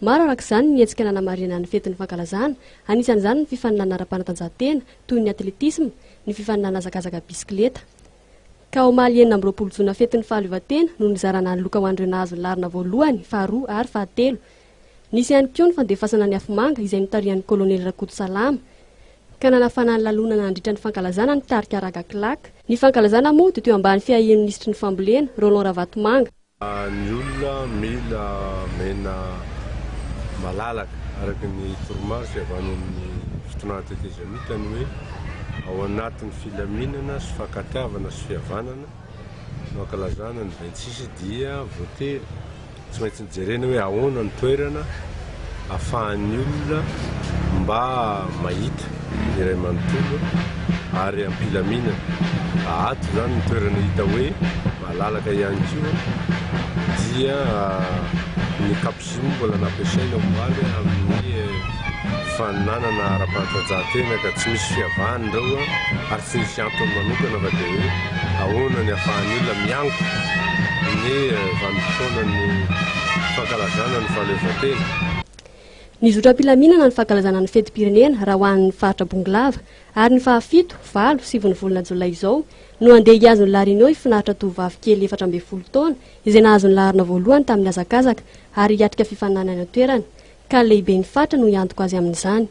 Maro araka izany ny hetsika nanamarihana ny fetin'ny fankalazana, anisan'izany ny fifaninanana ara-panatanjahantena toy ny atletisma, ny fifaninanana hazakazaka bisikileta. Ka omaly enina amby roapolo jona fetin'ny fahaleovantena no nizarana ny loka ho an'ireo nahazo ny laharana voalohany, faharoa ary fahatelo. Nisy ihany koa ny fandefasana ny afomanga izay notarihan'ny kolonely Rakotosalama, ka nanafana ny lalonana nandritra ny fankalazana ny tarika Raga Claque. Ny fankalazana moa dia teo ambany fiahian'ny minisitry ny fambolena, Roland Ravatomanga. Ny olona mila mena malalaka araka ny toromarika avy any amin'ny fitondrana tetezamita ny hoe ao anatin'ny filaminana sy fankatiavana sy fihavanana no ankalazana ny vingt six dia voatery tsy maintsy jerena hoe ahoana ny toerana afahan'ny olona mba mahita ny iray manontolo ary am-pilaminana. Ato izany ny toerana hita hoe malalaka ihany koa dia ny capucine mbola nampiasaina omaly amin'ny faninanana ara-panatanjahantena ka tsy misy fiavahany ireo ary Tsy misy antony manokana fa dia hoe ahoana ny ahafahan'ny olona miango ny vanim-potoanan'ny fankalazana ny fahaleovantena. Ny zotram-pilaminana ny fankalazana ny fetim-pirenena raha ho an'ny faritra Bongolava ary ny faha fito, valo, siviny volana jolay izao no handeha hihazo ny La Reunion hifinaritra tovovavy kely efatra ambin'ny folo taona izay nahazo ny laharana voalohany tamin'ny hazakazaka ary hiatrika fifaninanana any an-toerana ka ny lehiben'ny faritra no hiantoka azy amin'izany.